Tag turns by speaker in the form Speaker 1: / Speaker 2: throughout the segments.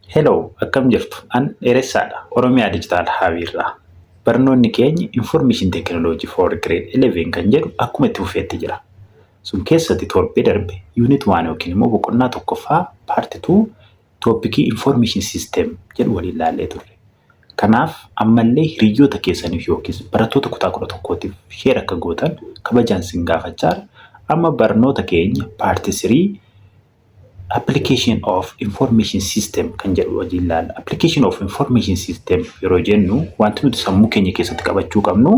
Speaker 1: Hello akkam jirtu an dheeressaadha oromiyaa digital hub irraa barnoonni keenya information technology for grade 11 kan jedhu akkuma itti fufeetti jira sun keessatti torbee darbe unit 1 yookiin immoo boqonnaa tokkoffaa part 2 toopikii information system jedhu waliin ilaallee turre kanaaf ammallee hiriyyoota keessaniif yookiis barattoota kutaa 11tiif sheer akka gootan kabajaan sin gaafachaa amma barnoota keenya part 3 application of information system kan jedhu wajjin ilaalla. Application of information system yeroo jennu wanti nuti sammuu keenya keessatti qabachuu qabnu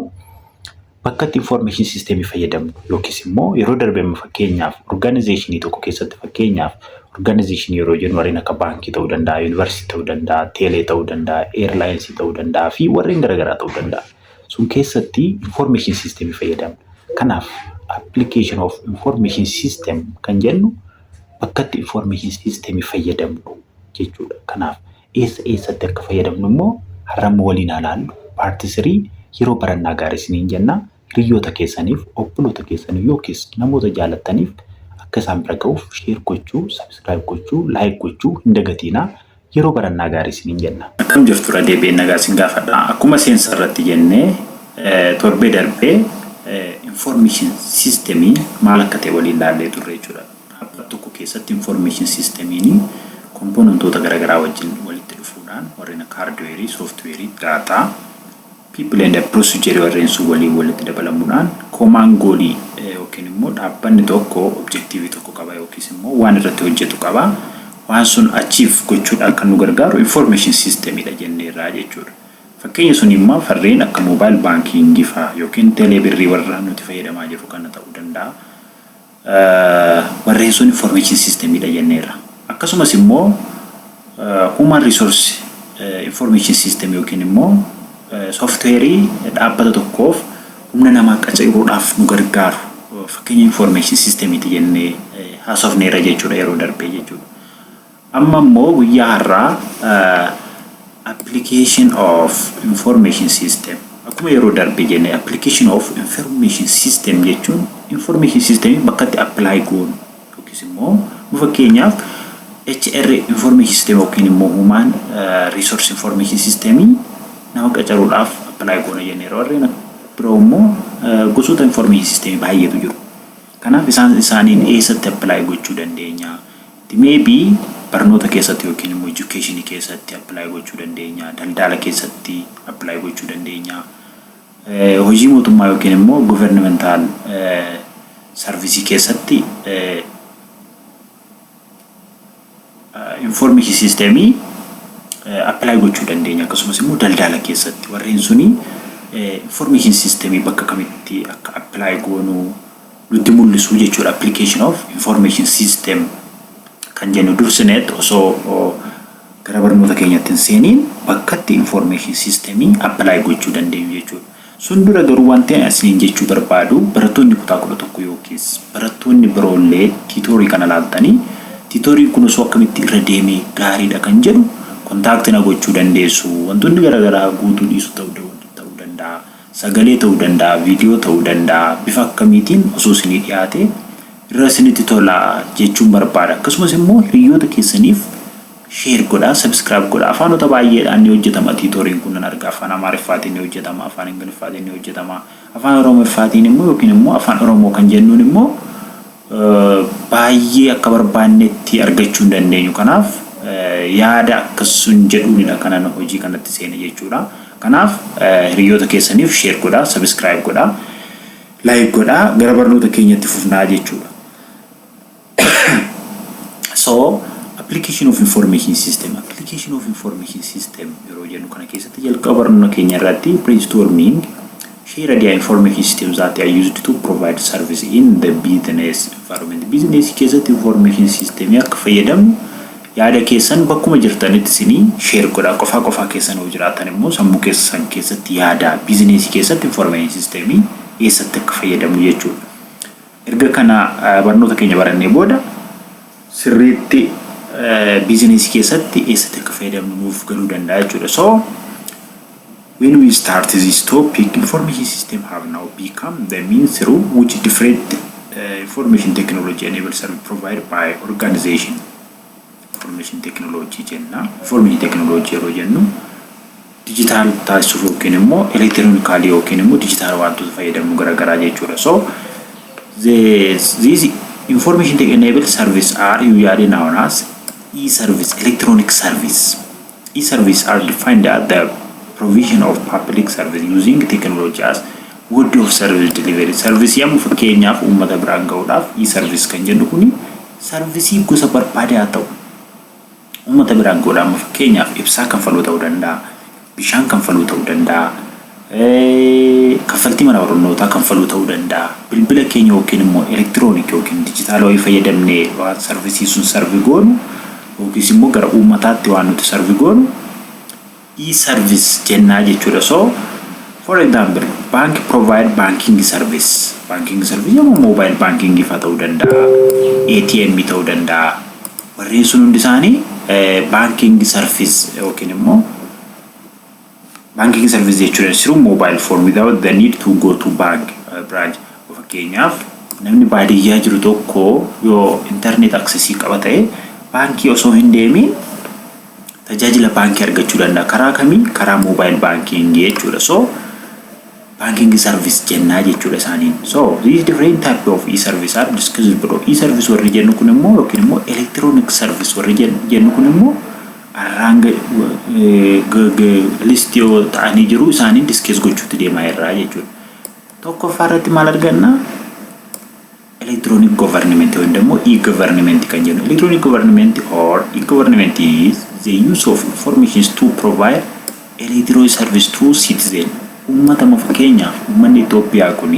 Speaker 1: bakka itti information system fayyadamnu yookiis immoo yeroo darbe fakkeenyaaf organizationii tokko keessatti fakkeenyaaf organization yeroo jennu warreen akka baankii ta'uu danda'a, yuunivarsiitii ta'uu danda'a, teelee ta'uu danda'a, eerlaayinsii ta'uu danda'a fi warreen garaagaraa ta'uu danda'a. Sun keessatti information system fayyadamna. Kanaaf application of information system kan jennu bakkatti information system fayyadamnu jechuudha. Kanaaf eessa eessatti akka fayyadamnu immoo har'amma waliin alaallu paarti sirii yeroo barannaa gaarii isiniin jenna hiriyoota keessaniif obboloota keessaniif yookiis namoota jaalattaniif akka isaan bira ga'uuf sheer gochuu, subscribe gochuu, like gochuu hin dagatiinaa. yeroo barannaa gaarii isiniin jenna. Akkam jirtu irra deebi'een nagaa isin gaafadha. Akkuma seensa irratti jenne torbee darbe information system maal akka ta'e waliin laallee turre jechuudha. Dhaabbata tokko keessatti information system komponentoota garaagaraa wajjin walitti dhufuudhaan warreen akka hardware, software, data People and a Bruce Jerry warreen sun waliin walitti dabalamuudhaan common goal yookiin immoo dhaabbanni tokko objective tokko qaba yookiis immoo waan irratti hojjetu qaba. Waan sun achieve gochuudhaan kan nu gargaaru information system dha jenneerra jechuudha. Fakkeenya sun immoo farreen akka mobile banking faa yookiin telee birrii warra nuti fayyadamaa jirru kana ta'uu danda'a. Barreessuun Information System dha jenneerra. Akkasumas immoo Human Resource Information System yookiin immoo software dhaabbata tokkoof humna namaa qacaruudhaaf nu gargaaru fakkeenya information system ti jennee haasofneerra jechuudha yeroo darbee jechuudha. Amma immoo guyyaa har'aa application of information system akkuma yeroo darbe jenne application of information system jechuun information system bakkatti apply goonu yookiis immoo nu fakkeenyaaf HR information system yookiin immoo human resource information system nama qacaruudhaaf apply goona jenne warreen biroo immoo gosoota information system baay'eetu jiru. Kanaaf isaan isaaniin eessatti apply gochuu dandeenya? May be barnoota keessatti yookiin immoo education keessatti apply gochuu dandeenya, daldaala keessatti apply gochuu dandeenya, hojii mootummaa yookiin immoo governmental service keessatti information system apply gochuu dandeenya akkasumas immoo daldaala keessatti warreen suni information system bakka kamitti akka apply goonuu nutti mul'isu jechuudha application of information system kan jennu dursineetti osoo gara barnoota keenyatti hin seeniin bakkatti information system apply gochuu dandeenyu jechuudha. Sun dura garuu wanti ani isiniin jechuu barbaadu barattoonni kutaa kudha tokko yookiis barattoonni biroollee tiitoorii kana laaltanii tiitooriin kun osoo akkamitti irra deemee gaariidha kan jedhu kontaakti na gochuu dandeessu. Wantoonni garaagaraa guutuu dhiisu ta'uu danda'a. Sagalee ta'uu danda'a, viidiyoo ta'uu danda'a, bifa akkamiitiin osoo isinii dhiyaatee irra isinitti tola jechuun barbaada. Akkasumas immoo hiriyyoota keessaniif share godhaa, subscribe godhaa. Afaanota baay'eedhaan ni hojjetama tiitooriin kun nan arga. Afaan Amaariffaatiin ni hojjetama, Afaan Ingiliffaatiin ni hojjetama, Afaan Oromiffaatiin immoo yookiin immoo Afaan Oromoo kan jennuun immoo baayyee akka barbaannetti argachuu hin dandeenyu. Kanaaf yaada akkas sun jedhuunidha kanan hojii kanatti seene jechuudha. Kanaaf hiriyyoota keessaniif share godhaa, subscribe godhaa, like godhaa gara barnoota keenya itti fufnaa jechuudha. So application of information system application of information system yeroo jennu kana keessatti jalqaba barnoota keenya irratti brainstorming Share idea and form key system that are used to provide service in the business environment. Business keessatti information system akka fayyadamnu yaada keessan bakkuma jirtanitti isinii share godha. Qofaa qofaa keessan yoo jiraatan immoo sammuu keessan keessatti yaada business keessatti information system eessatti akka fayyadamnu jechuudha. Erga kana barnoota keenya barannee booda sirriitti business keessatti eessatti akka fayyadamnu nuuf galuu danda'a jechuudha. So when we start this topic information system have now become the mean through which different uh, information technology enabled service provided by organization Information Technology jenna. Information Technology yeroo jennu dijitaal taasisuuf yookiin immoo elektironikaalii yookiin immoo dijitaal wantoota fayyadamuu garaagaraa jechuudha. So these information tech enabled service are usually known as e-service, electronic service. E-services are defined as the provision of public service using technology as mode of service delivery. Sarvisii amma fakkeenyaaf uummata biraan ga'uudhaaf e-service kan jennu kuni sarvisii gosa barbaade haa ta'u uummata biraan ga'uudha amma fakkeenyaaf ibsaa kanfaluu ta'uu danda'a bishaan kanfaluu ta'uu danda'a Kaffaltii mana barnootaa kanfaluu ta'uu danda'a. Bilbila keenya yookiin immoo elektiroonik yookiin dijitaala wayii fayyadamnee waan sarvisii sun sarvi goonu yookiis immoo gara uummataatti waan nuti sarvi goonu e-service jennaa jechuudha. So for example bank provide banking service banking service yommuu mobile banking faa ta'uu danda'a ATM ta'uu danda'a warreen sun hundi isaanii banking service yookiin immoo Banking service jechuun is through mobile phone without the need to go to bank branch. Fakkeenyaaf namni baadiyyaa jiru tokko yoo internet access qaba ta'e baankii osoo hin deemiin tajaajila baankii argachuu danda'a. Karaa kamii? Karaa mobile banking jechuudha. So Banking service jennaa jechuudha isaaniin. So these different type of e-service are discussed below. E-service warri jennu kun immoo yookiin immoo electronic service warri jennu kun immoo arraan list yoo ta'anii jiru isaaniin discuss gochuutti deemaa irraa jechuudha. Tokkoffaa irratti maal arganna? Electronic Government ወይም ደግሞ e-government kan jennu electronic government or e-government is the use of informations to provide electronic service to citizen uummata moo fakkeenyaaf uummanni Itoophiyaa kun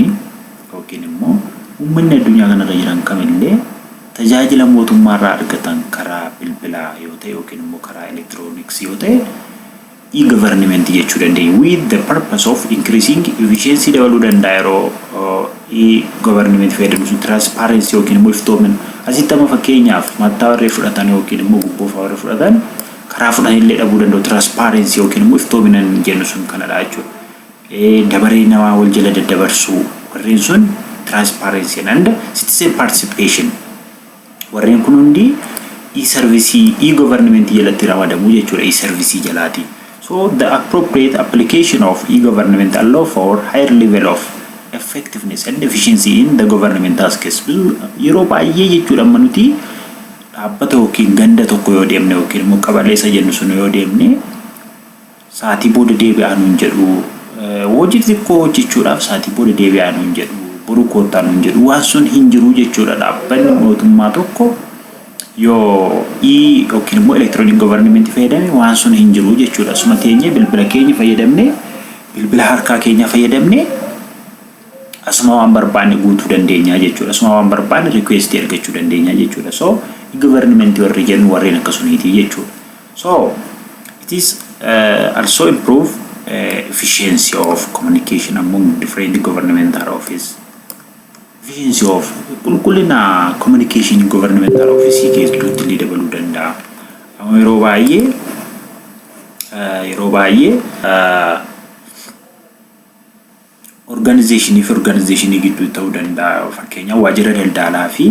Speaker 1: yookiin immoo uummanni addunyaa kanarra jiran kamillee tajaajila mootummaarraa argatan karaa bilbilaa yoo ta'e yookiin immoo karaa elektirooniksii yoo ta'e e-government jechuu dandeenya with the purpose of increasing efficiency dabaluu danda'a yeroo e-government fayyadamnu sun transparency yookiin immoo iftoomina asitti amma fakkeenyaaf mattaa warri fudhatan yookiin immoo gubboofa warri fudhatan karaa fudhan illee dhabuu danda'u transparency yookiin immoo iftoomina jennu sun kanadha jechuudha dabaree namaa wal jala daddabarsuu warreen sun transparency and citizen participation Warreen kun hundi e-sarvisii, e-government jalatti ramadamu jechuudha e-sarvisii jalaatiin. So the appropriate application of e-government allow for higher level of effectiveness and efficiency in the government tasks. Bizu yeroo baay'ee jechuudha amma nuti dhaabbata yookiin ganda tokko yoo deemne yookiin immoo qabaleessa jennu sun yoo deemne saatii booda deebi'aa nuun jedhu, hojii xixiqqoo hojjechuudhaaf saatii booda deebi'aa nuun jedhu, boru koottaa nuun jedhu, waan sun hin jiru jechuudha. Dhaabbanni mootummaa tokko yoo i yookiin immoo elektirooniik govarnimentii fayyadame waan sun hin jiru jechuudha. Suma teenyee bilbila keenya fayyadamnee bilbila harkaa keenya fayyadamnee asuma waan barbaanne guutuu dandeenya jechuudha. Asuma waan barbaanne rikweestii argachuu dandeenya jechuudha. So i govarnimentii warri jennu warreen akkasumiitii jechuudha. So it is uh, also improve uh, efficiency of communication among different governmental office. Efficiency of qulqullina communication governmental office keessatti illee dabaluu danda'a. Amma yeroo baay'ee uh, yeroo baay'ee uh, Organization fi organization gidduutti ta'uu danda'a. Fakkeenyaaf waajjira daldaalaa fi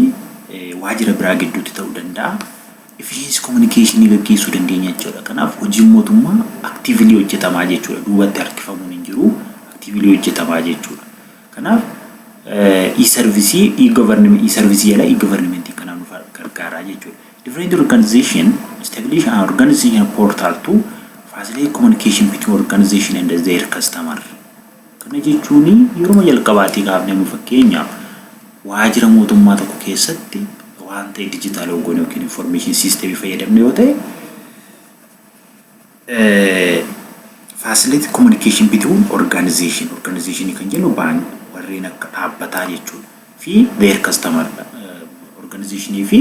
Speaker 1: waajjira biraa gidduutti ta'uu danda'a. Efficiency communication gaggeessuu dandeenya jechuudha. Kanaaf hojiin mootummaa actively hojjetamaa jechuudha. Duubatti harkifamuun hin jiru. Actively hojjetamaa jechuudha. Kanaaf e-service e-government e-service jala e-government kana nu gargaaraa jechuudha. Different organization establish an organization portal to facilitate communication between organization and their customer. Kana jechuun yeruma jalqabaatii kaafnee amma fakkeenyaaf waajira mootummaa tokko keessatti waan ta'e dijitaalawwa goone yookiin information system fayyadamne yoo ta'e facility communication between organization organization kan jennu baan warreen akka dhaabbataa jechuudha fi their customer organization fi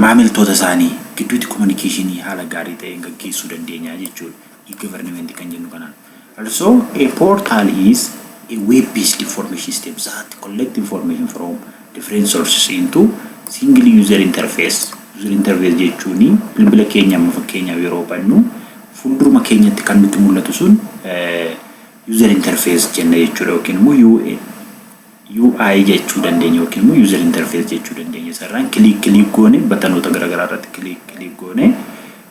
Speaker 1: maamiltoota isaanii gidduutti communication haala gaarii ta'een gaggeessuu dandeenya jechuudha. e-government kan jennu kanaan. Also, a portal is a web-based information system that collects information from different sources into single user interface. User interface jechuun bilbila keenya amma fakkeenyaaf yeroo bannu fuulduruma keenyatti kan nutti mul'atu sun user interface jenna jechuudha yookiin immoo UI jechuu dandeenya yookiin immoo user interface jechuu dandeenya. Isarraan kiliik kiliik goone batanoota garaagaraa irratti kiliik kiliik goone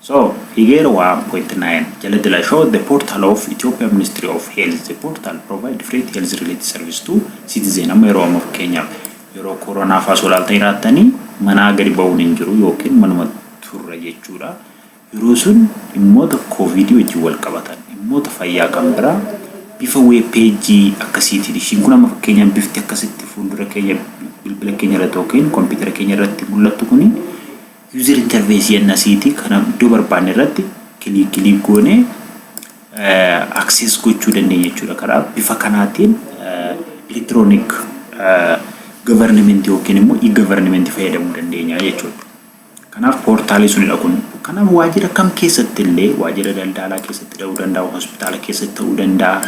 Speaker 1: So here wa point nine jaladila show the portal of Ethiopia ministry of health the portal provide different health related service to citizen amma yeroo amma fakkeenyaaf yeroo koronaa faa solaalta hiraattanii manaa gadi ba'uun hin jiru yookiin manuma turra jechuudha yeroo sun dhimmoota kooviidii wajjin wal qabatan dhimmoota fayyaa kan biraa bifa weeb peejii akkasiitiin ishiin kun amma fakkeenyaaf bifti akkasitti fuuldura keenya bilbila keenya irratti yookiin kompiitara keenya irratti mul'attu kuni User interface jenna asiiti kana iddoo barbaanne irratti click click goone access gochuu dandeenya jechuudha. Kanaaf bifa kanaatiin electronic government yookiin immoo e-government fayyadamuu dandeenya jechuudha. Kanaaf poortaalii sunidha kun. Kanaaf waajjira kam keessatti illee waajjira daldaalaa keessatti ta'uu danda'a, hospitaala keessatti ta'uu danda'a.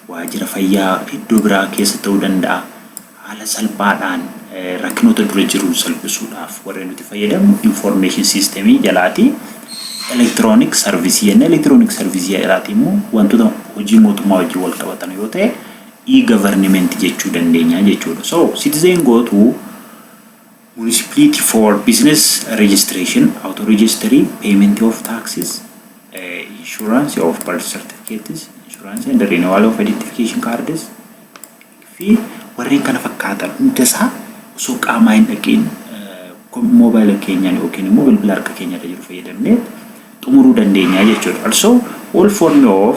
Speaker 1: waajjira fayyaa iddoo biraa keessa ta'uu danda'a. Haala salphaadhaan rakkinoota dura jiru salphisuudhaaf warri nuti fayyadamnu information system jalaati. Electronic service jenna. Electronic service jalaati immoo wantoota hojii mootummaa wajjin wal qabatan yoo ta'e e-government jechuu dandeenya jechuudha. So citizen go to Municipality for business registration, auto registry, payment of taxes, insurance of birth certificates, insurance and renewal of identification cards fi warreen kana fakkaatan hunda isaa osoo qaamaa hin dhaqiin moobaayila keenyaan yookiin immoo bilbila harka keenya irra jiru fayyadamnee xumuruu dandeenya jechuudha. Also, all form of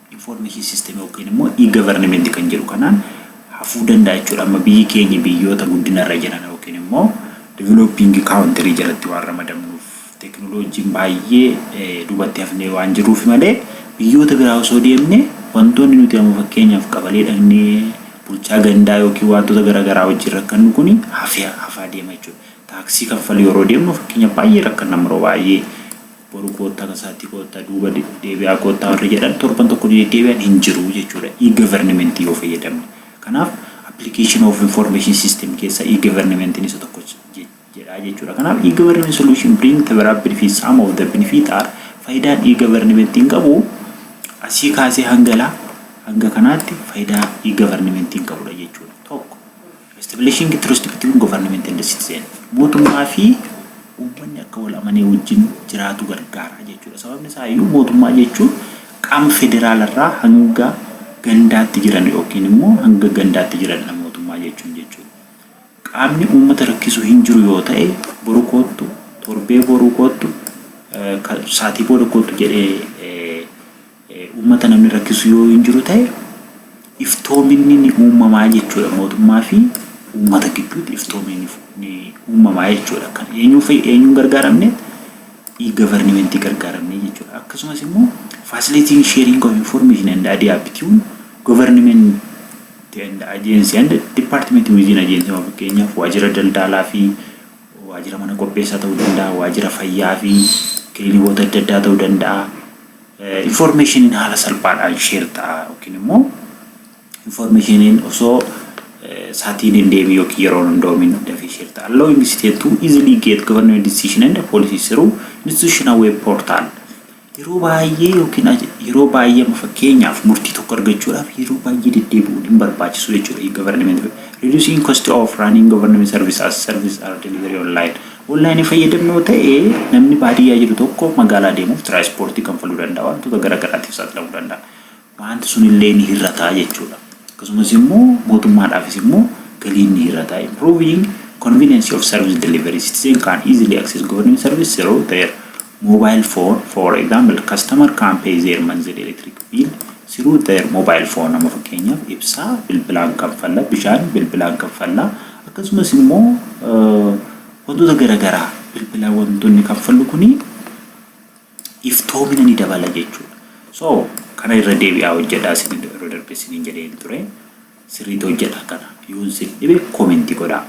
Speaker 1: Information system yookiin immoo e-government kan jedhu kanaan hafuu danda'a jechuudha. Amma biyyi keenya biyyoota guddina irra jiran yookiin immoo developing country jalatti waan ramadamnuuf teknoloojiin baay'ee dubatti hafnee waan jirruuf malee biyyoota biraa osoo deemne wantoonni nuti amma fakkeenyaaf qabalee dhaqnee bulchaa gandaa yookiin wantoota gara garaa wajjin rakkannu kun hafaa deema jechuudha. Taaksii kanfaluu yeroo deemnu fakkeenya baay'ee rakkanna yeroo baay'ee boru koottaa tasaatti koottaa duuba deebi'aa koottaa warri jedhan torban tokko ni deddeebi'an hin jiru jechuudha e-government yoo fayyadamne. Kanaaf application of information system keessa e-government isa tokko jedha jechuudha. Kanaaf e-government solution bring several benefits some of the benefit are faayidaan e-government hin qabu asii kaasee hanga laa hanga kanaatti faayidaa e-government hin qabudha jechuudha. Tokko. Establishing trust between government and citizen, mootummaa fi uummanni akka wal amanee wajjin jiraatu gargaara jechuudha. Sababni isaa iyyuu mootummaa jechuun qaama federaala irraa hanga gandaatti jiran yookiin immoo hanga gandaatti jiranidha mootummaa jechuun jechuudha. Qaamni uummata rakkisu hin jiru yoo ta'e boru koottu, torbee boruu koottu, eh, ka- saatii booda koottu jedhee eh, Uummata namni rakkisu yoo hin jiru ta'e iftoominni ni uumamaa jechuudha mootummaa fi uummata gidduutti iftoominni ni uumamaa jechuudha kan eenyuu fi eenyuun gargaaramne e-governmentii gargaaramne jechuudha akkasumas immoo facilitating sharing of information and idea between government and agency and department within agency of fakkeenyaaf waajjira daldaalaa fi waajjira mana qopheessaa ta'uu danda'a waajjira fayyaa fi kiliinikoota adda addaa ta'uu danda'a Infoormeeshiniin haala salphaadhaan share ta'a yookiin immoo infoormeeshiniin osoo saatiin hin deemin yookiin yeroon hin doomin dafee share ta'a. Allowing state to easily get government decision and policies through institutional web portal. Yeroo baay'ee yookiin yeroo baay'ee amma fakkeenyaaf murtii tokko argachuudhaaf yeroo baay'ee deddeebi'uun hin barbaachisu jechuudha. E-government reducing cost of running government service as service are delivery online. Online fayyadamni yoo ta'e namni baadiyyaa jiru tokko magaalaa deemuuf tiraanispoortii kanfaluu danda'a, wantoota gara garaatiif saaxilamuu danda'a. Waanti sun illee ni hir'ata jechuudha. Akkasumas immoo mootummaadhaafis immoo galiin ni hir'ata. Improving convenience of service delivery citizen can easily access government service through their mobile phone for example customer can pay their monthly electric bill through their mobile phone amma fakkeenyaaf ibsaa bilbilaan kanfalla bishaan bilbilaan kanfalla akkasumas immoo wantoota garaagaraa bilbilaan wantoonni kanfallu kuni iftoomina ni dabala jechuudha. So kana irra deebi'aa hojjedhaa isin yeroo darbe isiniin jedheen ture. sirriiti hojjadha kana yoon sin dhibe komenti godha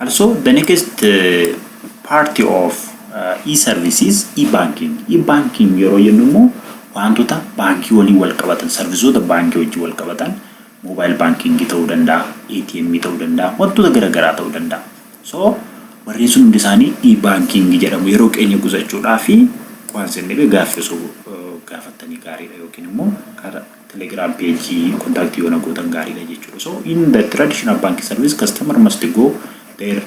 Speaker 1: also the next uh, party of uh, e-services e-banking e-banking yeroo jennu immoo wantoota baankii waliin wal qabatan sarvisoota baankii wajjin wal qabatan mobile banking ta'uu danda'a ATM ta'uu danda'a wantoota garaagaraa ta'uu danda'a so warreen sun hundi isaanii e-banking jedhamu yeroo keenya qusachuudhaa fi waan sin dhibe gaaffii osoo uh, gaafattanii gaariidha yookiin immoo karaa Telegram page contact yoo na gootan gaariidha jechuudha. So in the traditional bank service customer must go their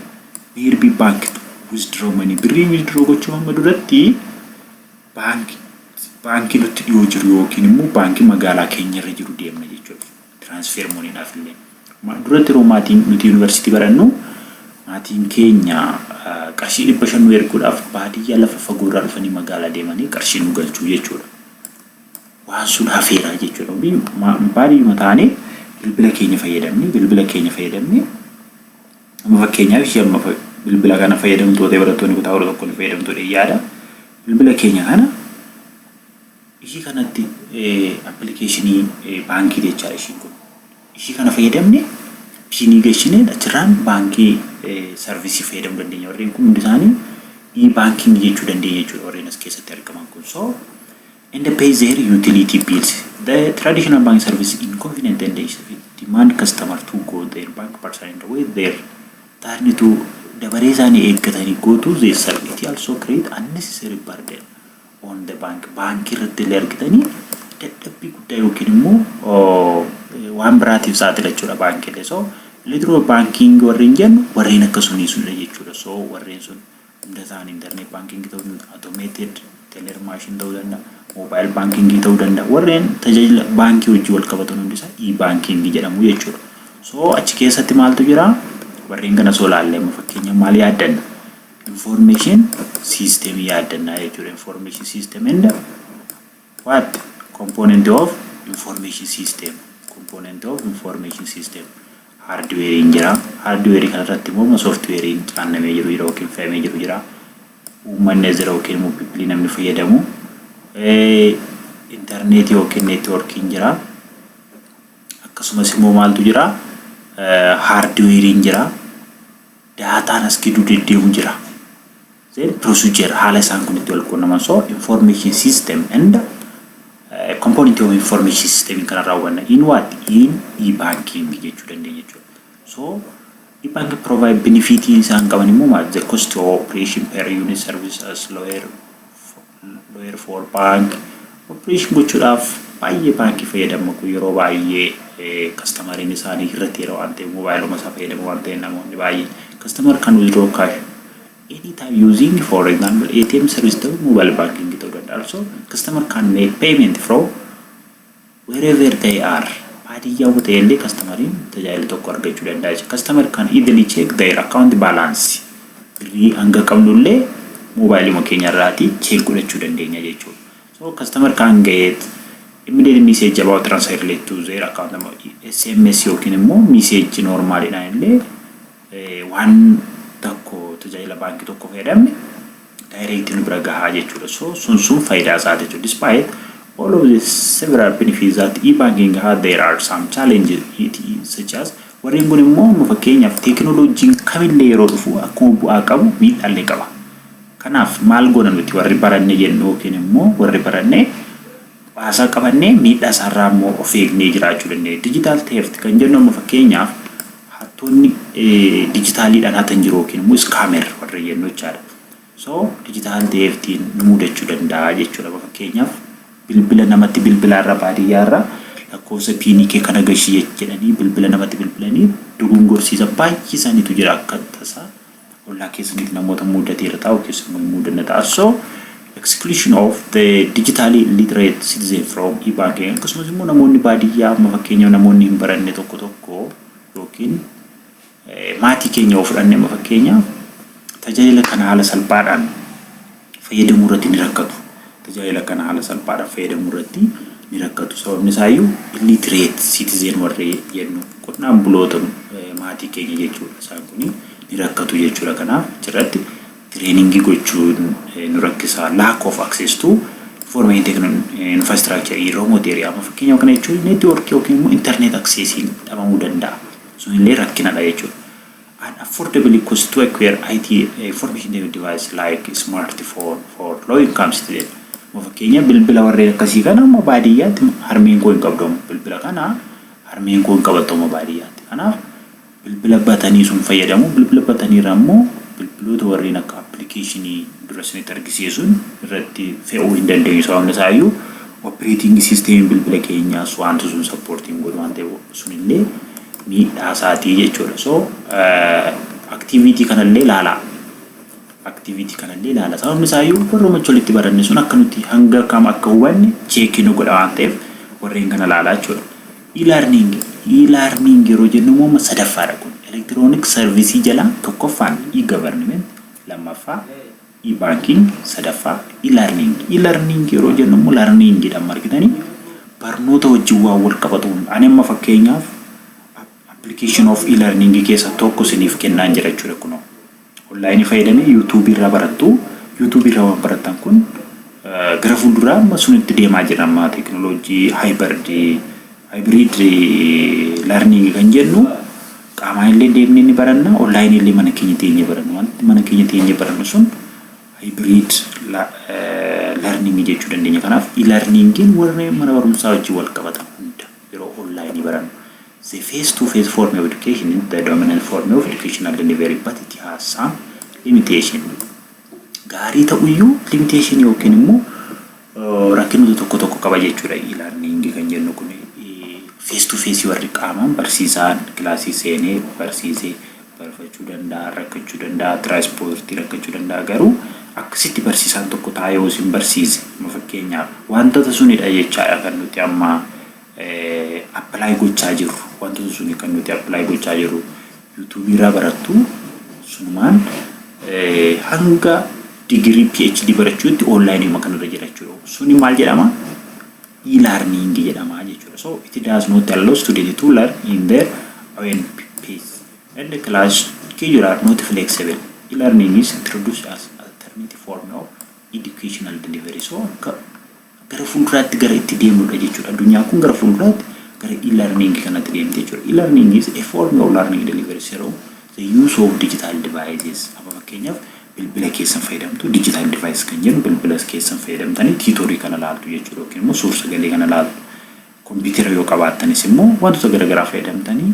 Speaker 1: nearby bank to withdraw money. Birrii withdraw gochuu amma duratti baanki baankii nutti dhiyoo jiru yookiin immoo baankii magaalaa keenyarra jiru deemna jechuudha. Transfer moniidhaaf illee. Duratti yeroo maatiin nuti yuunivarsiitii barannu maatiin keenya qarshii dhibba shan nu erguudhaaf baadiyyaa lafa fagoorraa dhufanii magaalaa deemanii qarshii nu galchuu jechuudha. waan sun hafeera jechuudha. Hundi baadiyyuma taanee bilbila keenya fayyadamne bilbila keenya fayyadamne amma fakkeenyaaf ishee amma bilbila kana fayyadamtuu ta'e barattoonni kutaa kudha tokko ni fayyadamtuu ta'e yaada bilbila keenya kana ishii kanatti appilikeeshinii baankii jechaadha ishiin kun ishii kana fayyadamne piinii gashinee achirraan baankii sarvisii fayyadamuu dandeenya warreen kun hundi isaanii ii baankiingi jechuu dandeenya jechuudha warreen as keessatti argaman kun soo and pay their utility bills. The traditional bank service in convenient and ease of it demand customer to go their bank person and wait their turn to dabaree isaanii eeggatanii go to their serve. It also create unnecessary burden on the bank. Baankii irratti illee argitanii dadhabbii guddaa yookiin immoo waan biraatiif saaxila jechuudha baankiilee. So ilitiro baankiingi warreen jennu warreen akka sunii sunidha jechuudha. So warreen sun Dataan internet banking ta'uu danda'a, automated teller machine ta'uu danda'a, mobile banking ta'uu danda'a. Warreen tajaajila baankii wajjin wal qabatan hundi isaa e-banking jedhamu jechuudha. So achi keessatti maaltu jira? Warreen kana soo laallee amma fakkeenyaaf maal yaaddanna? Information system yaaddanna jechuudha. Information system and what? Component of information system. Component of information system. Haardiweeriin jira. Haardiweerii kana irratti immoo sooftiweeriin caannamee jiru jira yookiin fe'amee jiru jira. Uummanni as jira yookiin immoo pipilii namni fayyadamu. Intarneetii yookiin neetwoorkiin jira. Akkasumas immoo maaltu jira? Haardiweeriin jira. Daataan as gidduu deddeemu jira. Cell procedure haala isaan kun itti wal quunnaman so information system and a component of information system in kanarraa hubanna in what in e-banking jechuu dandeenya jechuudha. So e-banking provide benefit isaan qaban immoo maal the cost of operation per unit service as lower for Lawyer for bank operation gochuudhaaf baay'ee baankii fayyadama kun yeroo baay'ee kastamariin isaanii irratti yeroo waan ta'e moobaayiluma isaa fayyadama waan ta'e namoonni baay'ee kastamar kan withdraw cash anytime using for example ATM service ta'u mobile banking ta'uu danda'a. Also customer can make payment from Wherever they are, baadiyyaa yoo ta'e illee kastamariin tajaajila tokko argachuu danda'a jechuudha. Customer can easily check their account balance. Birrii hanga qabnu illee moobaayiliima keenya irraati check godhachuu dandeenya jechuudha. So customer can get immediate message about transfer relate to their account sms yookiin immoo message normal dhaan illee Waan tokko tajaajila baankii tokko fayyadamne direct nu bira gahaa jechuudha. So sun sun faayidaa isaa jechuudha. Despite all of the several benefits that e-banking has there are some challenges it is such as warreen kun immoo amma fakkeenyaaf teekinooloojiin kamillee yeroo dhufu akkuma bu'aa qabu miidhaallee qaba. Kanaaf maal goona nuti warri baranne jennu yookiin immoo warri baranne baasaa qabannee miidhaa isaarraa immoo of eegnee jiraachuu dandeenya. Digital theft kan jennu amma fakkeenyaaf Hattoonni dijitaaliidhaan hatan jiru yookiin immoo scammer warreen jennu jechaadha. So digital theftiin nu mudachuu danda'a jechuudha. Amma fakkeenyaaf bilbila namatti bilbilaarra baadiyyaarra lakkoofsa piinii kee kana gashii jedhanii bilbila namatti bilbilanii dogongorsiisan baay'ee isaaniitu jira akka tasaa ollaa keessaniif namoota muudatee irra taa'u keessan waliin muudanna ta'a. So, exclusion of the digitally illiterate citizen from e-banking akkasumas immoo namoonni baadiyyaa amma fakkeenyaaf namoonni hin baranne tokko tokko yookiin maatii keenya yoo fudhanne amma fakkeenyaaf tajaajila kana haala salphaadhaan fayyadamuu irratti ni rakkatu. Tajaajila kana haala salphaadhaan fayyadamuu irratti ni rakkatu. Sababni isaayyuu illiterate citizen warri jennu qonnaan buloota maatii keenya jechuudha. Isaan kun ni rakkatu jechuudha. Kanaaf achirratti tireeningii gochuun nu rakkisa. Lack of access to information technology infrastructure in remote area. Amma fakkeenyaaf kana jechuun network yookiin immoo internet accessiin dhabamuu danda'a. Sun illee rakkinadha jechuudha. An affordable cost to acquire IT information device like smartphone for low income citizen. Amma fakkeenyaaf bilbila warreen akkasii kana amma baadiyyaatti harmeen koo hin qabdu amma bilbila kana harmeen koo hin qabattu amma baadiyyaatti. Kanaaf bilbila batanii sun fayyadamu bilbila batanii irra immoo bilbiloota warreen akka appilikeeshinii dura isinitti argisiise sun irratti fe'uu hin dandeenyu sababni isaayyuu operating system bilbila keenyaas wanti sun sappoortii hin godhu waan ta'eef sunillee miidhaa isaatii jechuudha. So activity kanallee ilaalaa. Activity kanallee ilaala. Sababni isaayyuu warra macha walitti baranne sun akka nuti hanga kam akka hubanne cheekii nu godha waan ta'eef warreen kana ilaalaa jechuudha. E-learning e-learning yeroo jennu immoo amma sadaffaadha kun. Electronic service jala tokkoffaan e-government lammaffaa E-banking sadaffaa e-learning e-learning yeroo jennu immoo learning dha amma argitanii barnoota wajjin waan wal qabatu hunda ani amma fakkeenyaaf application of e-learning keessa tokko isiniif kennaan jira jechuudha kunoo online fayyadamee youtube irraa barattu youtube irraa waan barattan kun gara fuulduraa amma sunitti deemaa jira amma teknolojii hybrid hybrid learning kan jennu Qaamaan illee deemnee ni baranna, online illee mana keenya teenyee baranna. Wanti mana keenya teenyee barannu sun hybrid learning jechuu dandeenya. Kanaaf e-learningin warra mana barumsaa wajjin wal qabatan hunda yeroo online barannu. The face to face form of education is the dominant form of educational delivery but it has some limitation. Gaarii ta'uyyuu limitation yookiin immoo Rakkinoota tokko tokko qaba jechuudha e-learning kan jennu kun face to face warri qaamaan barsiisaan kilaasii seenee barsiisee barfachuu danda'a rakkachuu danda'a tiraanspoortii rakkachuu danda'a garuu akkasitti barsiisaan tokko taa'ee yoo isin barsiise amma fakkeenyaaf wantoota sunidha jechaadha kan nuti amma apply gochaa jirru wantoota suni kan nuti apply gochaa jirru YouTube irraa barattu sunumaan hanga digirii PhD barachuutti online uma kanarra jira jechuudha. Suni maal jedhama? E-learning jedhama jechuudha. So it does not allow student to learn in their own pace and the class schedule are not flexible. E-learning is introduced as alternative form of educational delivery. So akka gara fuulduraatti gara itti deemnudha jechuudha. Addunyaan kun gara fuulduraatti gara e-learning kanatti deemti jechuudha. E-learning is a form of learning delivery through the use of digital devices. Amma fakkeenyaaf bilbila keessan fayyadamtu digital device kan jennu bilbila keessan fayyadamtanii tiitorii kana laaltu jechuudha yookiin immoo suur sagalee kana laaltu. Kompiitara yoo qabaattanis immoo wantoota garaagaraa fayyadamtanii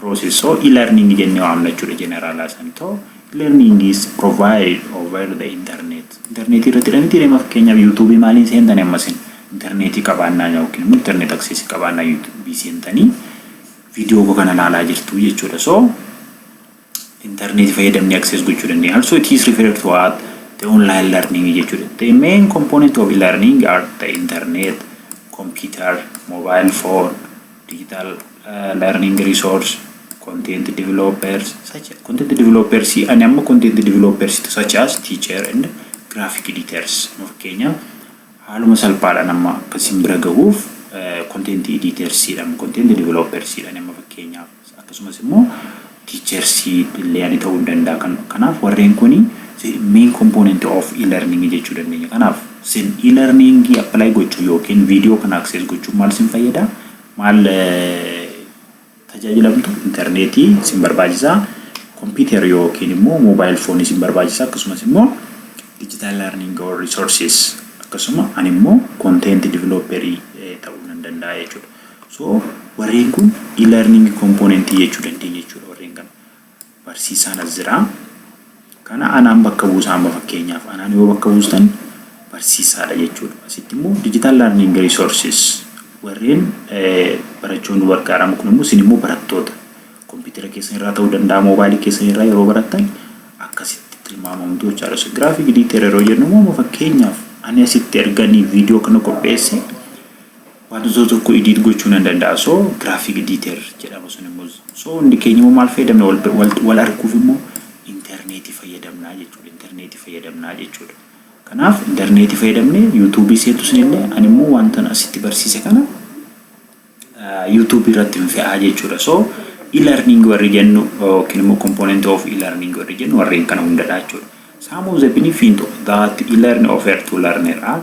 Speaker 1: process so e-learning jennee waamna jechuudha generalaa san to e-learning is provided over the internet interneetii irratti dha miti deema fakkeenyaaf youtube maaliin seentanii ammasin interneetii qabaannaa yookiin immoo internet access qabaannaa youtube seentanii video koo kana ilaalaa jirtu jechuudha so internet fayyadamnee access gochuu dandeenya. Also it is referred to as the online learning jechuudha. The main component of e-learning are the internet, computer, mobile phone, digital uh, learning resource, content developers such as, content developers ani amma content developers such as teacher and graphic editors nu fakkeenyaaf haaluma salphaadhaan amma akka isin bira gahuuf content editors dha content developers dha amma fakkeenyaaf akkasumas immoo teachers illee ani ta'uu danda'a kan kanaaf warreen kuni main component of e-learning jechuu dandeenya kanaaf sin e-learning apply gochuu yookiin video kana access gochuun maal sin fayyada maal tajaajilamtu interneetii sin barbaachisa computer yookiin immoo mobile phone sin barbaachisa akkasumas immoo digital learning or resources akkasuma ani immoo content developer ta'uu nan danda'a jechuudha. So warreen kun e-learning component jechuu dandeenya jechuudha warreen kana. Barsiisaan as jira. Kana anaan bakka buusa amma fakkeenyaaf anaan yoo bakka buustan barsiisaadha jechuudha. Asitti immoo digital learning resources warreen barachuun nu gargaaramu kun immoo isin immoo barattoota kompiitara keessan irraa ta'uu danda'a moobaayilii keessan irraa yeroo barattan akkasitti tilmaamamtu jechaadha. So giraafiik diiteer yeroo jennu immoo fakkeenyaaf ani asitti erganii viidiyoo kana qopheesse Maduzoo tokko edit gochuu nan danda'a so graphic editer jedhama sun immoo so hundi keenya immoo maal fayyadamna wal, wal, wal arguuf immoo interneetii fayyadamnaa jechuudha interneetii fayyadamnaa jechuudha kanaaf interneetii fayyadamne yuutuubii seentu sinillee ani immoo wantan asitti barsiise kana yuutuubii irratti hin fe'aa jechuudha so e-learning warri jennu yookiin immoo component of e-learning warri jennu warreen kana hundadha jechuudha some of the benefit that e-learn offer to learner are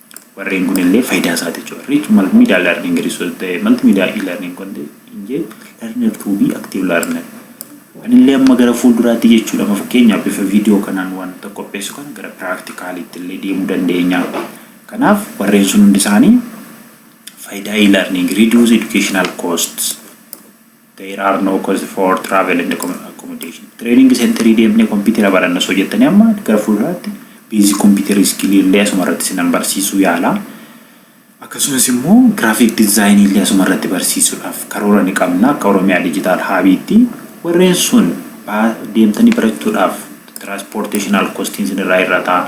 Speaker 1: Warreen kun illee fayidaa isaa ti jechuudha. Rich multimedia learning resource the multimedia e-learning content engage learner to be active learner. Ani illee amma gara fuulduraatti jechuudha amma fakkeenyaaf bifa viidiyoo kanaan wanta qopheessu kana gara piraaktikaalii illee deemuu dandeenya. Kanaaf warreen sun hundi isaanii fayidaa e-learning reduce educational costs There are no cost for travel and accommodation. Training centerii deemnee kompiitera baranna osoo jettanii amma gara fuulduraatti basic computer skill illee asuma irratti sinan barsiisuu yaala. Akkasumas immoo graphic design illee asuma irratti barsiisuudhaaf karoora ni qabna akka Oromiyaa Digital Hub'tti. Warreen sun deemtanii barachuudhaaf transportational costiin sin irraa hir'ata.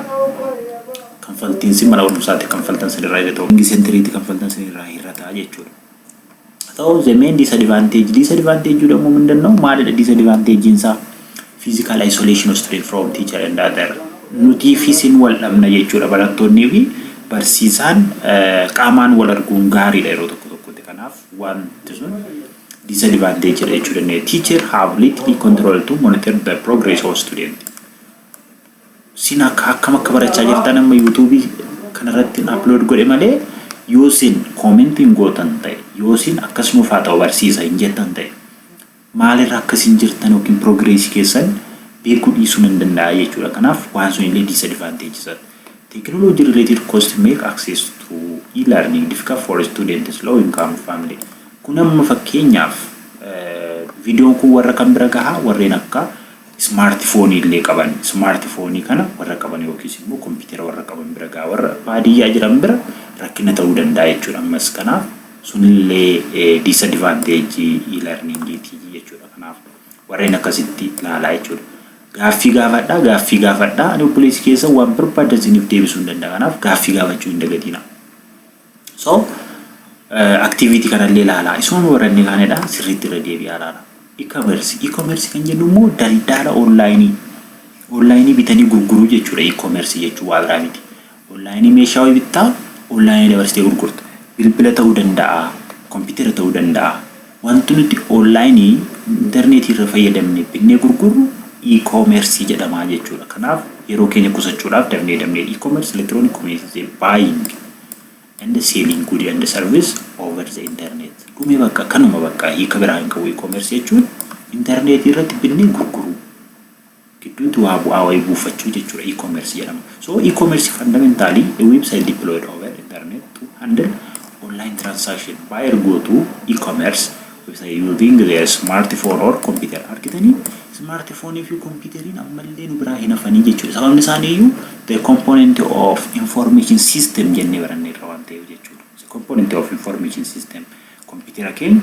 Speaker 1: Kanfaltiin sin mana barumsaatti kanfaltan sin irraa hir'ata. Training centerii itti kanfaltan sin irraa hir'ata jechuudha. Ta'us the main disadvantage disadvantage jedhamuu mindanna'u maalidha disadvantage isaa physical isolation of student from teacher and other nutii fi sin wal dhabna jechuudha barattoonnii fi barsiisaan qaamaan wal arguun gaariidha yeroo tokko tokkotti kanaaf wanti sun disadvantage jedha jechuu dandeenya teacher have little control to monitor the progress of student Sin akka akkam akka barachaa jirtan amma YouTube kana irratti hin upload godhe malee yoo sin comment hin gootan ta'e yoo sin akkas nuuf haa ta'u barsiisa hin jettan ta'e maalirra akka sin jirtan yookiin progress keessan beekuu dhiisuu nan danda'a jechuudha. Kanaaf waan sun illee disadvantage isa. Technology related cost make access to e-learning difficult for students low income family. Kun amma fakkeenyaaf viidiyoon kun warra kan bira gahaa warreen akka Ismaarti foonii illee qaban. Ismaarti foonii kana warra qaban yookiis immoo kompiitera warra qaban bira ga'a. Warra baadiyyaa jiran bira rakkina ta'uu danda'a jechuudha. Ammas kanaaf sun illee diisadvaanteejjii iilarniingiiti jechuudha. Kanaaf warreen akkasitti ilaalaa jechuudha. Gaaffii gaafadhaa, gaaffii gaafadhaa. Ani obboleessi keessan waan barbaaddan isiniif deebisuu hin danda'a. Kanaaf gaaffii gaafachuu hin dagatinaa. So activity kanallee ilaalaa isuma baranne kaanidha sirriitti irra deebi'aa ilaala. E-commerce e-commerce kan jennu immoo daldaala onlaayinii onlaayinii bitanii gurguruu jechuudha e-commerce jechuun waa biraa miti. Onlaayinii meeshaa wayii bittaa onlaayinii dabarsitee gurgurta. Bilbila ta'uu danda'a, kompiitara ta'uu danda'a. Wanti nuti onlaayinii, interneetii irra fayyadamnee binnee gurgurru e-commerce jedhama jechuudha. Kanaaf yeroo keenya qusachuudhaaf dafnee dafnee e-commerce electronic communities a buying and selling good and service over the internet. Dhume bakka kanuma bakka hiika biraa hin qabu e-commerce jechuun interneetii irratti binnee gurguruu. gidduutti waa bu'aa wayii buufachuu jechuudha e-commerce jedhama. So e-commerce fundamentally a website deployed over internet to handle online transaction buyer go to e-commerce website using their smartphone or computer argitanii smartphone fi computeriin ammallee nu biraa hin hafanii jechuudha sababni isaaniiyyuu the component of information system jennee barannee irra waan ta'eef jechuudha the component of information system computer keenya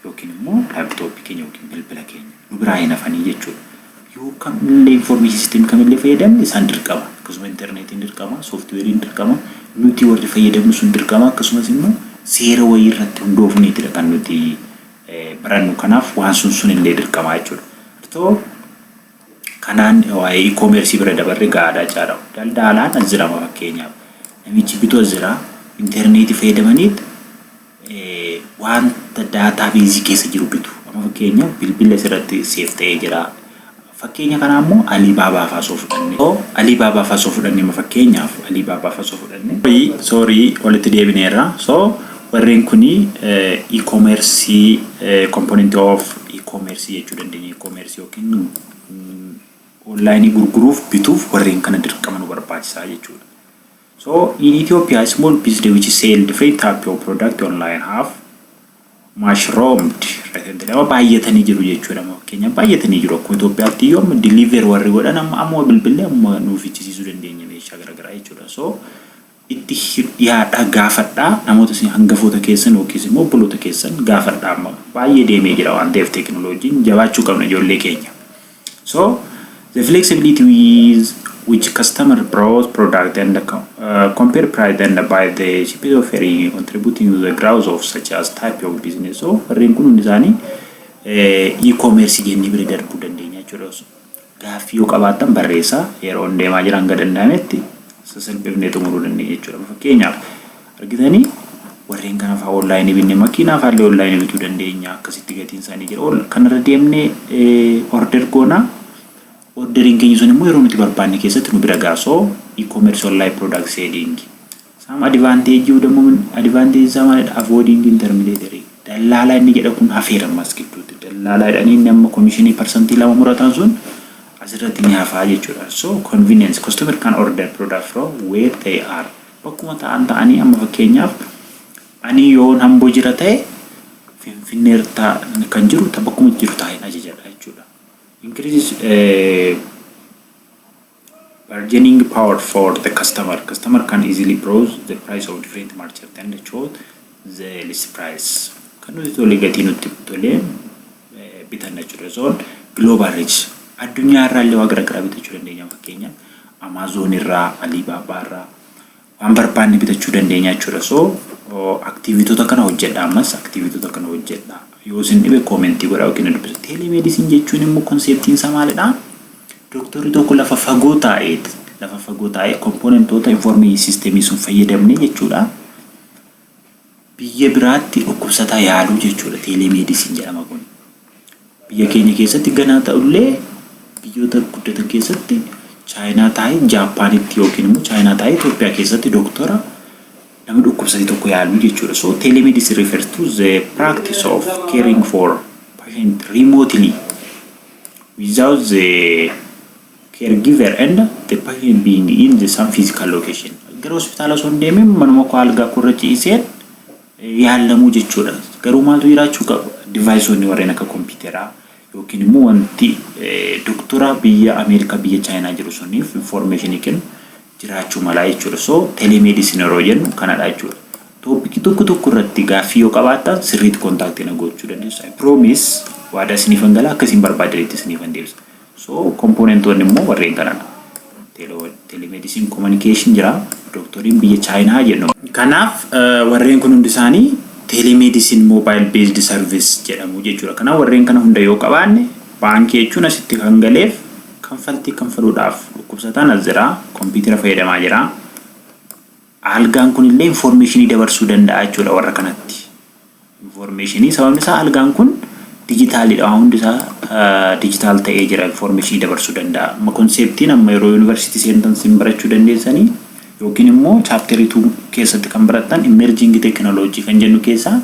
Speaker 1: yookiin immoo laptop keenya yookiin bilbila keenya nu biraa hin hafanii jechuudha. Yoo kamillee information system kamillee fayyadamne isaan dirqama. Akkasuma interneetiin dirqama, software dirqama, nuti warri fayyadamnu sun dirqama akkasumas immoo seera wayii irratti hundoofneetidha kan nuti barannu kanaaf waan sun sun illee dirqama jechuudha. Artoo kanaan waa'ee e-commerce bira dabarre gaadhaa caadha. Daldaalaan as jirama fakkeenyaaf. Namichi bitu as jira. Interneetii fayyadamaniit wanta database keessa jiru bitu. Amma fakkeenyaaf bilbila asirratti save ta'ee jira. Fakkeenya kanaa immoo Alibaba fa'aa osoo fudhanne. So Alibaba fa'aa osoo fudhanne amma fakkeenyaaf Alibaba fa'aa osoo fudhanne. Sorry, sorry walitti deebineerra. So warreen kuni e-commerce component of e-commerce jechuu dandeenya. E-commerce yookiin online gurguruuf bituuf warreen kana dirqama nu barbaachisaa jechuudha. So in Ethiopia a small business which sell different type of product online have mushroomed recently nama baay'atanii jiru jechuudha amma fakkeenyaaf baay'atanii jiru akkuma Itoophiyaatti iyyuu amma deliver warri godhan amma amma bilbilee amma nuuf ichisiisuu dandeenya meeshaa garaagaraa jechuudha so itti dhiyaadhaa gaafadhaa namoota isin hangafoota keessan yookiis immoo obboloota keessan gaafadhaa amma baay'ee deemee jira waan ta'eef teekinooloojiin jabaachuu qabna ijoollee keenya. So the flexibility with which customer browse product and co- uh, compare price and buy the cheapest offer in contributing to the growth of such as type of business. So warreen kun hundi isaanii eh, e-commerce jennee bira darbuu dandeenya jechuudha. So, Gaaffii yoo qabaattan barreessaa yeroo deemaa jiran gad danda'ametti sasalphifnee xumuruu dandeenya jechuudha. Fakkeenyaaf Argitani warreen kana faa online binne makiinaa faallee online bituu dandeenya akkasitti gatiin isaanii jira ol kanarra deemne order goona orderiin keenya sun immoo yeroo nuti barbaanne keessatti nu bira ga'a so e-commerce online product selling saam advantage u dammoo advantage isaa maalidha avoiding intermediary dallaalaa inni jedha kun hafeera ammas gidduutti dallaalaa jedhanii inni amma komishinii parsantii lama murataan sun asirratti ni hafaa jechuudha so convenience customer can order product from where they are Bakkuma ta'an ta'anii amma fakkeenyaaf ani yoon Amboo jira ta'e Finfinnee irra kan jiru ta bakkuma jiru taa'een ajajadha jechuudha. Increases eh, bargaining power for the customer. Customer can easily browse the price of different merchant and choose the least price. Kan nuti tole gatii nutti tole bitanna jechudha zoon global reach addunyaa irraa illee waa garagaraa bitachuu dandeenya fakkeenya amaazoon irraa aliibaabaa irraa waan barbaanne bitachuu dandeenya jechudha so aktiivitoota kana hojjedha ammas aktiivitoota kana hojjedha yoo isin dhibe koomentii godha yookiin na dubbisa teelemeedisin jechuun immoo konseptiin isaa maalidha doktorri tokko lafa fagoo taa'eet lafa fagoo taa'ee kompoonentoota informeeyii siistemii sun fayyadamne jechuudha Biyya biraatti dhukkubsataa yaaluu jechuudha teeleemeedisin jedhama kun. Biyya keenya keessatti ganaa ta'ullee biyyoota guddatan keessatti chaayinaa taa'ee jaappaanitti yookiin immoo chaayinaa taa'ee Itoophiyaa keessatti doktora nama dhukkubsate tokko yaaluu jechuudha. So teeleemeedisin refers to the practice of caring for patient remotely without the caregiver and the patient being in the same physical location. Gara hospitaala osoo hin deemin manuma koo algaa koo irra ciiseen yaallamuu jechuudha. Garuu maaltu jiraachuu qaba? Divaayisoonni warreen akka kompiitaraa yookiin immoo wanti doktora biyya Ameerikaa biyya Chaayinaa jiru suniif information kennu jiraachuu malaa jechuudha. So telemedicine yeroo jennu kanadha jechuudha. Toopikii tokko tokko irratti gaaffii yoo qabaattan sirriitti kontaaktii na gochuu dandeessu. I promise waadaa isiniifan gala akka isin barbaadanitti isiniifan deebisa. So kompoonentoonni immoo warreen kanadha. Telemedicine communication jira. Dooktoriin biyya Chaayinaa jennu. Kanaaf warreen kun hundi isaanii telemedicine mobile based service jedhamu jechuudha. Kanaaf warreen kana hunda yoo qabaanne baankii jechuun asitti kan galeef kanfaltii kanfaluudhaaf dhukkubsataan as jira, kompiitara fayyadamaa jira. Aalgaan kun illee infoormeeshinii dabarsuu danda'a jechuudha warra kanatti. Infoormeeshinii sababni isaa aalgaan kun dijitaaliidha waan hundi isaa dijitaal ta'ee jira infoormeeshinii dabarsuu danda'a. Amma konseeptiin amma yeroo yuunivarsiitii seentan sin barachuu dandeessanii yookiin immoo chaapterii tuu keessatti kan barattan immerjiingi teekinooloojii kan jennu keessaa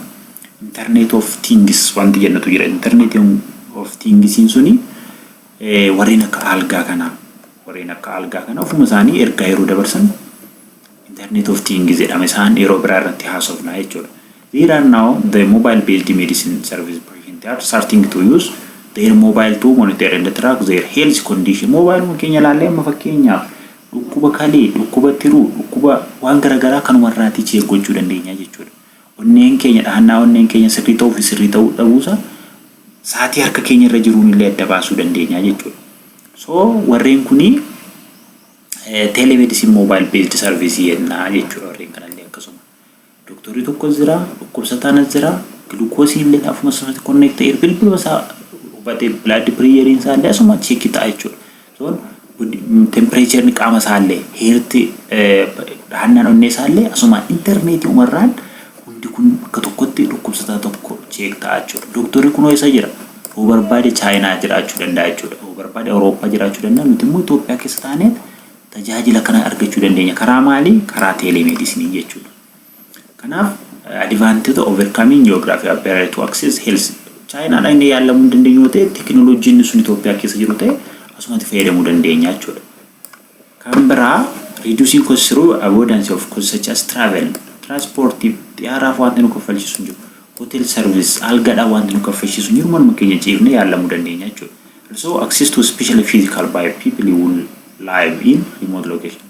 Speaker 1: intarneet of tiingis wanti jennutu jira. Intarneetiin of tiingisiin suni Warreen akka aalgaa kana warreen akka aalgaa kana ofuma isaanii ergaa yeroo dabarsan internet of things jedhama isaan yeroo biraa irratti haasofna jechuudha. There are now the mobile based medicine service patient are starting to use their mobile to monitor and track their health condition mobile keenya ilaallee amma fakkeenyaaf dhukkuba kalee dhukkuba tiruu dhukkuba waan garaagaraa kanumarraatii cheek gochuu dandeenya jechuudha. Onneen keenya dhahannaa onneen keenya sirrii ta'uu fi sirrii ta'uu dhabuusaa sa'aatii harka keenya irra jiruun illee adda baasuu dandeenya jechuudha. So warreen kuni telemedicine mobile based service jenna jechuudha warreen kanallee akkasuma. Doktorri tokkos jira, dhukkubsataan as jira, gilukoosii illee afuma sanatti connect ta'eera bilbiluma isaa hubatee blood pressure isaa illee asuma check ta'a jechuudha. Sun tempireecharri qaama isaallee heerti dhahannaan onnee isaallee asumaan interneetii umarraan hundi kun bakka tokkotti dhukkubsataa tokko cheek ta'a jechuudha. Dooktorri kunoo isa jira yoo barbaade chaayinaa jiraachuu danda'a jechuudha. Yoo barbaade Awurooppaa jiraachuu danda'a nuti immoo Itoophiyaa keessa taaneet tajaajila kana argachuu dandeenya. Karaa maalii? Karaa teeleemeedisinii jechuudha. Kanaaf advantage overcoming geography barrier to access health Chaayinaa dhaqnee yaalamuu hin dandeenyu yoo ta'e tekinooloojiin inni sun Itoophiyaa keessa jiru ta'e asumatti fayyadamuu dandeenya jechuudha. Kan biraa reducing costs through avoidance of costs such as travel transportiif xiyyaaraaf wanti nu kaffalchiisu hin jiru. Hotel service algadhaan wanti nu kaffalchiisu hin jiru manuma keenya ciifnee yaalamuu dandeenya jechuudha. Also access to especially physical by people who live in remote location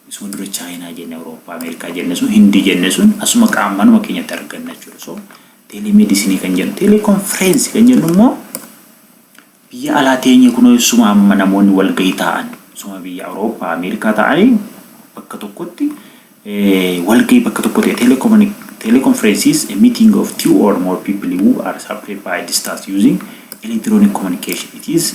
Speaker 1: Isuma dura Chaayinaa jenne, Awurooppaa, Ameerikaa jenne sun, Hindii jenne sun asuma qaama manuma keenyatti arganna jechuudha. So teelemeedisinii kan jennu, teeleekonfireensi kan jennu immoo biyya alaa teenyee kunoo isuma amma namoonni walgahii taa'an isuma biyya Awurooppaa, Ameerikaa taa'anii bakka tokkotti walgahii bakka tokko ta'e teeleekonfireensi is a meeting of two or more people who are separated by distance using electronic communication. It is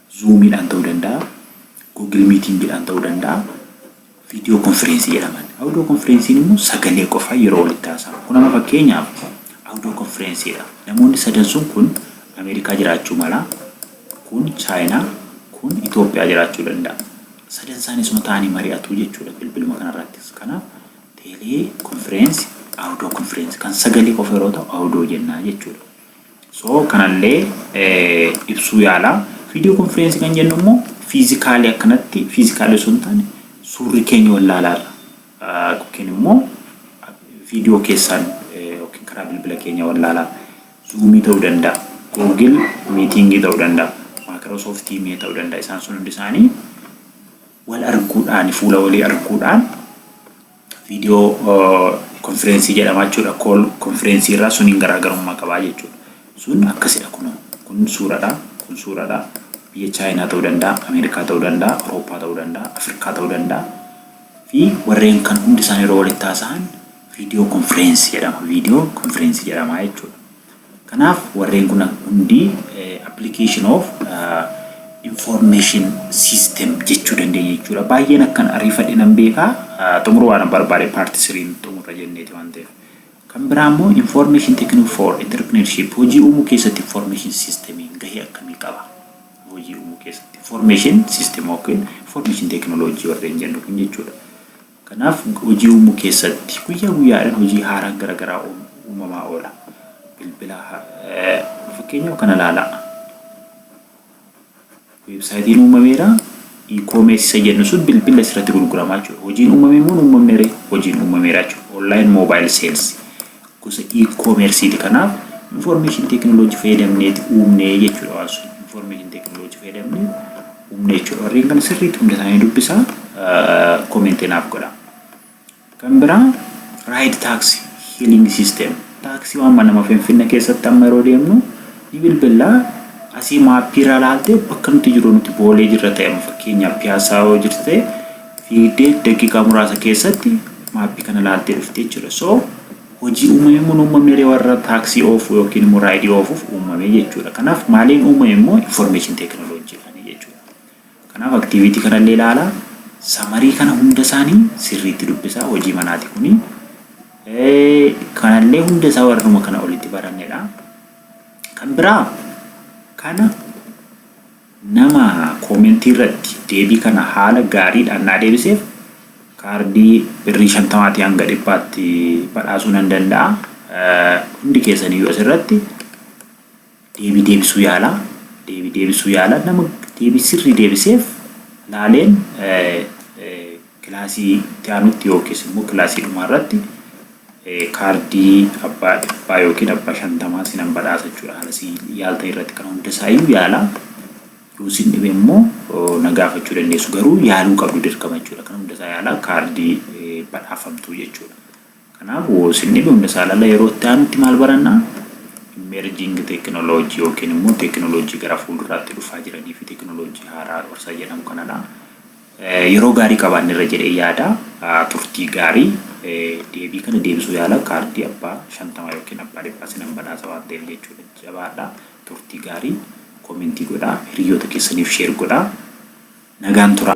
Speaker 1: Zuumiidhaan ta'uu danda'a, Google Meetingidhaan ta'uu danda'a, viidiyoo konfireensii jedhaman. Audio konfireensiin immoo sagalee qofaa yeroo walitti haasa'amu. Kun amma fakkeenyaaf audio konfireensiidha. Namoonni sadan sun kun Ameerikaa jiraachuu mala, kun Chaayinaa, kun Itoophiyaa jiraachuu danda'a. Sadan isaanii suma ta'anii mari'atu jechuudha bilbiluma kanarrattis. Kanaaf teelee konfireensi, audio konfireensi kan sagalee qofa yeroo ta'u audio jennaa jechuudha. So kanallee ibsuu yaala. Video conference kan jennu immoo fiizikaalii akkanatti fiizikaalii osoo hin taane suurri keenya wal laalaarra yookiin immoo video keessaan yookiin karaa bilbila keenya wal laalaa zuumii ta'uu danda'a, googil miitiingii ta'uu danda'a, maayikiroosoft tiimii ta'uu danda'a isaan sun hundi isaanii wal arguudhaan fuula walii arguudhaan video konfireensii jedhama jechuudha kool konfireensii irraa suniin garaagarummaa qabaa jechuudha sun akkasidha kun kun suuradha kun suuradha biyya chaayinaa ta'uu danda'a ameerikaa ta'uu danda'a awurooppaa ta'uu danda'a afrikaa ta'uu danda'a fi warreen kan hundi isaanii yeroo walitti haasa'an video konfireensii jedhama video konfireensii jedhama jechuudha Kanaaf warreen kun hundi application of information system jechuu dandeenya jechuudha. Baay'een akkan ariifadhe nan beeka xumuruu waan barbaade part 3n xumurra jenneeti waan ta'eef. Kan biraa immoo information technique for entrepreneurship hojii uumuu keessatti information system gahee akkamii qaba? Hojii uumuu keessatti information system yookiin information technology warreen jennu kun jechuudha. Kanaaf hojii uumuu keessatti guyyaa guyyaadhaan hojii haaraan gara garaa uumamaa oola. Bilbila fakkeenyaaf kana ilaalaa. Weebsaayitiin uumameera. E-commerce isa jennu sun bilbila asirratti gurguramaa jechuudha. Hojiin uumame immoo uumamne ree hojiin uumameera jechuudha. Online mobile sales gosa e-commerce ti kanaaf information technology fayyadamneeti uumnee jechuudha waan sun information technology fayyadamnee uumnee jechuudha warreen kana sirriitti hunda isaanii dubbisa komentii naaf godha kan biraa ride tax healing system taaksii waan manama finfinna keessatti amma yeroo deemnu ni bilbillaa asii maappii irraa laaltee bakka nuti jiru nuti boolee jirra ta'e fakkeenyaaf piyaasaa yoo jirte fiigdee daqiiqaa muraasa keessatti maappii kana laaltee dhufte jechuudha. So hojii uumame immoo hin uumamne ree warra taaksii oofuu yookiin immoo raayidii oofuuf uumame jechuudha. Kanaaf maaliin uumame immoo information teekinooloojiidhaani jechuudha. Kanaaf aktiiviitii kanallee ilaalaa samarii kana hunda isaanii sirriitti dubbisaa hojii manaati kuni. Kanallee hunda isaa warruma kana olitti barannedha. Kan biraa kana Nama comment irratti deebii kana haala gaariidhaan naa deebiseef kaardii birrii 50 tii hanga 100 tti badhaasuu nan danda'a. Hundi keessan iyyuu asirratti deebii deebisuu yaalaa. Deebii deebisuu yaalaa. Nama deebii sirrii deebiseef laaleen Kilaasii itti aanutti yookiis immoo kilaasii dhumaa irratti kaardii abbaa dhibbaa yookiin abbaa shantamaa sinan badhaasa jechuudha. Haala si yaaltan irratti kan hundasaayyuu yaalaa yoo sin dhibe immoo na gaafachuu dandeessu garuu yaaluu qabdu dirqama jechuudha. Kan hundasaa yaalaa kaardii badhaafamtuu jechuudha. Kanaaf, woosinni dhumne saalala yeroo itti aanutti maal baranna? Emerging technology yookiin immoo teekinooloojii gara fuulduraatti dhufaa jiranii fi teekinooloojii haaraa isa jedhamu kanadha. Yeroo gaarii qabaanneerra jedhee yaada. Turtii gaarii deebii kana deebisuu yaala kaardii abbaa shantamaa yookiin abbaa dhibbaa sinan badhaasa waan ta'eef jechuudha. Jabaadha. Turtii gaarii koomentii godhaa hiriyoota keessaniif sheer godhaa. Nagaan turaa.